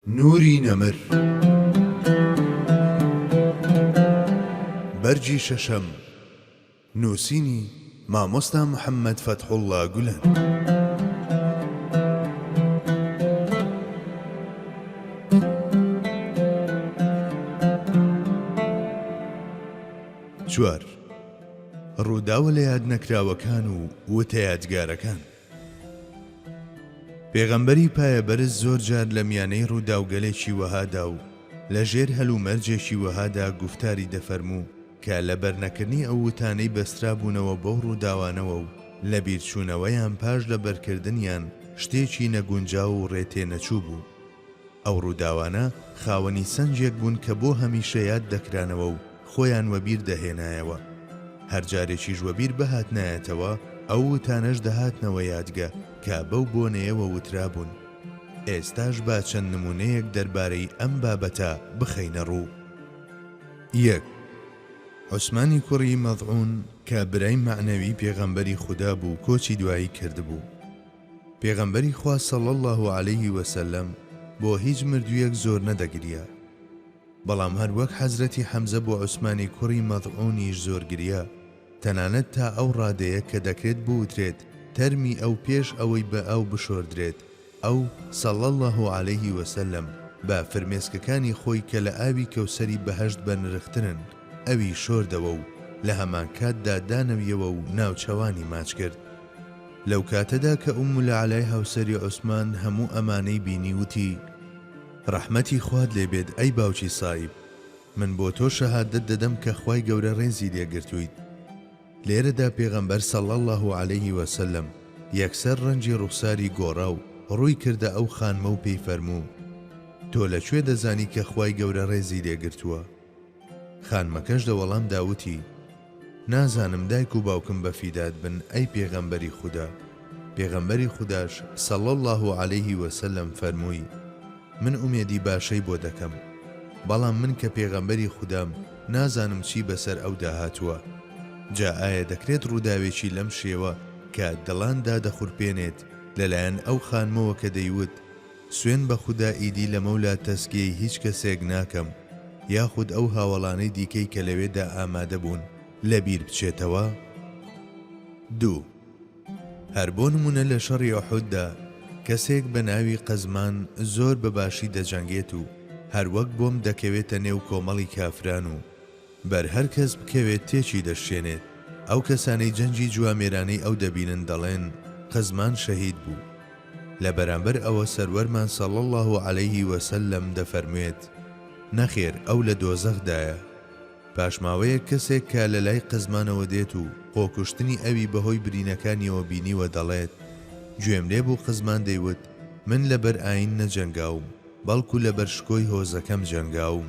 نوری نەمر بەرگی شەشەم نووسینی، مامۆستا محەمەد فەتحوڵڵا گولەن. چوار، ڕووداوە لەیادنەکراوەکان و وتەیادگارەکان. پێغەمبەری پایەبەرز زۆر جار لە میانەی ڕووداوگەلێکی وەهادا و لە ژێر هەلومەرجێکی وەهادا گوفتاری دەفەرموو کە لە بەرنەکردنی ئەو وتانەی بەسترابوونەوە بەو ڕووداوانەوە و لەبیرچوونەوەیان پاش لەبەرکردنیان شتێکی نەگونجاو و ڕێتێنەچوو بوو. ئەو ڕووداوانە خاوەنی سەنجێک بوون کە بۆ هەمیشە یاد دەکرانەوە و خۆیان وەبیر دەهێنایەوە. هەر جارێکیش وەبیر بهاتنایەتەوە، ئەو وتانەش دەهاتنەوە یادگە کە بەو بۆنەیەوە وترابوون. ئێستاش با چەند نموونەیەک دەربارەی ئەم بابەتە بخەینە ڕوو. یەک، عوسمانی کوڕی مەضعون کە برای مەعنەوی پێغەمبەری خودا بوو کۆچی دوایی کردبوو. پێغەمبەری خوا صلی اللە علیە وسلم بۆ هیچ مردویەک زۆر نەدەگریا بەڵام هەر وەک حەزرەتی حەمزە بۆ عوسمانی کوڕی مەضعونیش زۆر گریا تەنانەت تا ئەو ڕادەیە کە دەکرێت بوترێت تەرمی ئەو پێش ئەوەی بە ئاو بشۆردرێت ئەو، صلی اللە علیە وسلم، بە فرمێسکەکانی خۆی کە لە ئاوی کەوسەری بەهەشت بەنرخترن ئەوی شۆردەوە و لە هەمانکاتدا دانەویەوە و ناوچەوانی ماچ کرد. لەو کاتەدا کە ئوم العلای هاوسەری عوسمان هەموو ئەمانەی بینی وتی، ڕەحمەتی خوات لێ بێت ئەی باوکی سائیب، من بۆ تۆ شەهادەت دەدەم کە خوای گەورە ڕێزی لێ گرتوویت. لێرەدا پێغەمبەر صلی اللە علیه و سلم یەکسەر ڕەنگی ڕوخساری گۆڕا و ڕووی کردە ئەو خانمە و پێی فەرموو، تۆ لە کوێ دەزانی کە خوای گەورە ڕێزی لێ گرتووە؟ خانمەکەش دە وەڵام دا وتی، نازانم دایک و باوکم بە فیدات بن ئەی پێغەمبەری خودا، پێغەمبەری خوداش، صلی اللە علیه وسلم، فەرمووی، من ئومێدی باشەی بۆ دەکەم، بەڵام من کە پێغەمبەری خودام نازانم چی بەسەر ئەودا هاتووە، جا ئایا دەکرێت ڕووداوێکی لەم شێوە کە دڵان دادەخورپێنێت لەلایەن ئەو خانمەوە کە دەیوت، سوێن بە خودا ئیدی لەمەولا تەسکیەی هیچ کەسێک ناکەم یاخود ئەو هاوەڵانەی دیکەی کە لەوێدا ئامادە بوون لەبیر بچێتەوە؟ دوو. هەر بۆ نموونە لە شەڕی ئوحوددا کەسێک بە ناوی قەزمان زۆر بە باشی دەجەنگێت و هەر وەک بۆمب دەکەوێتە نێو کۆمەڵی کافران و، بەر هەر کەس بکەوێت تێکی دەشکێنێت. ئەو کەسانەی جەنگی جوامێرانەی ئەو دەبینن دەڵێن، قزمان شەهید بوو. لە بەرامبەر ئەوە سەروەرمان صلی اللە علیه و سلم دەفەرموێت، نەخێر ئەو لە دۆزەخدایە. پاشماوەیەک کەسێک کە لە لای قزمانەوە دێت و خۆکوشتنی ئەوی بەهۆی برینەکانیەوە بینیوە دەڵێت، گوێم لێ بوو قزمان دەیوت، من لەبەر ئاین نەجەنگاوم، بەڵکو لەبەر شکۆی هۆزەکەم جەنگاوم.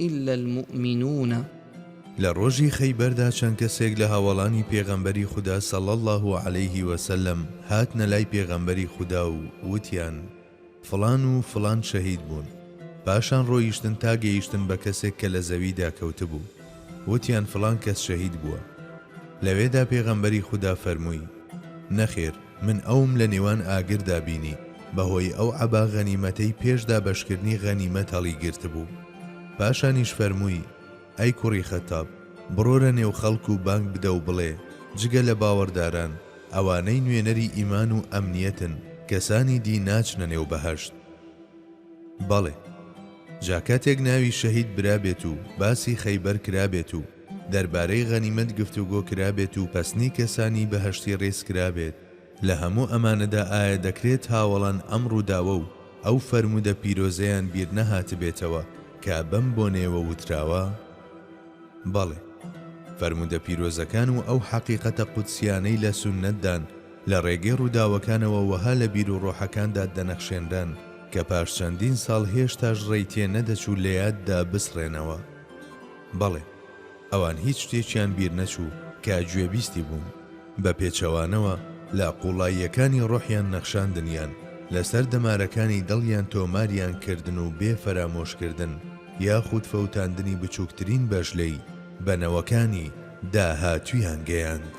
الا المومنون. لە ڕۆژی خەیبەردا چەند کەسێک لە هاوەڵانی پێغەمبەری خودا صلی اللە علیە وسلم هاتنە لای پێغەمبەری خودا و وتیان، فڵان و فڵان شەهید بوون، پاشان ڕۆیشتن تا گەیشتن بە کەسێک کە لە زەویدا کەوتبوو، وتیان فڵان کەس شەهید بووە. لەوێدا پێغەمبەری خودا فەرمووی، نەخێر، من ئەوم لە نێوان ئاگردا بینی بەهۆی ئەو عەبا غەنیمەتەی پێش دابەشکردنی غەنیمەت هەڵیگرتبوو. پاشانیش فەرمووی، ئەی کوڕی خەتاب، بڕۆرە نێو خەڵک و بانگ بدە و بڵێ، جگە لە باوەڕداران، ئەوانەی نوێنەری ئیمان و ئەمنیەتن، کەسانی دی ناچنە نێو بەهەشت. بەڵێ. جا کاتێک ناوی شەهید برابێت و باسی خەیبەر کرابێت و، دەربارەی غەنیمەت گفتوگۆ کرابێت و پەسنی کەسانی بەهەشتی ڕێز کرابێت، لە هەموو ئەمانەدا ئایا دەکرێت هاوەڵان ئەم ڕووداوە و ئەو فەرموودە پیرۆزەیان بیر نەهاتبێتەوە کە بەم بۆنەیەوە وتراوە؟ بەڵێ. فەرموودە پیرۆزەکان و ئەو حەقیقەتە قودسییانەی لە سوننەتدان، لە ڕێگەی ڕووداوەکانەوە وەها لە بیروڕۆحەکاندا دەنەخشێنران کە پاش چەندین ساڵ هێشتاش ڕێی تێ نەدەچوو لە یاددا بسڕێنەوە. بەڵێ، ئەوان هیچ شتێکیان بیر نەچوو کە گوێبیستی بوون، بە پێچەوانەوە لە قووڵاییەکانی ڕۆحیان نەخشاندنیان، لەسەر دەمارەکانی دڵیان تۆماریان کردن و بێ فەرامۆش کردن یاخود فەوتاندنی بچووکترین بەش لێی، بە نەوەکانی داهاتوویان گەیاند.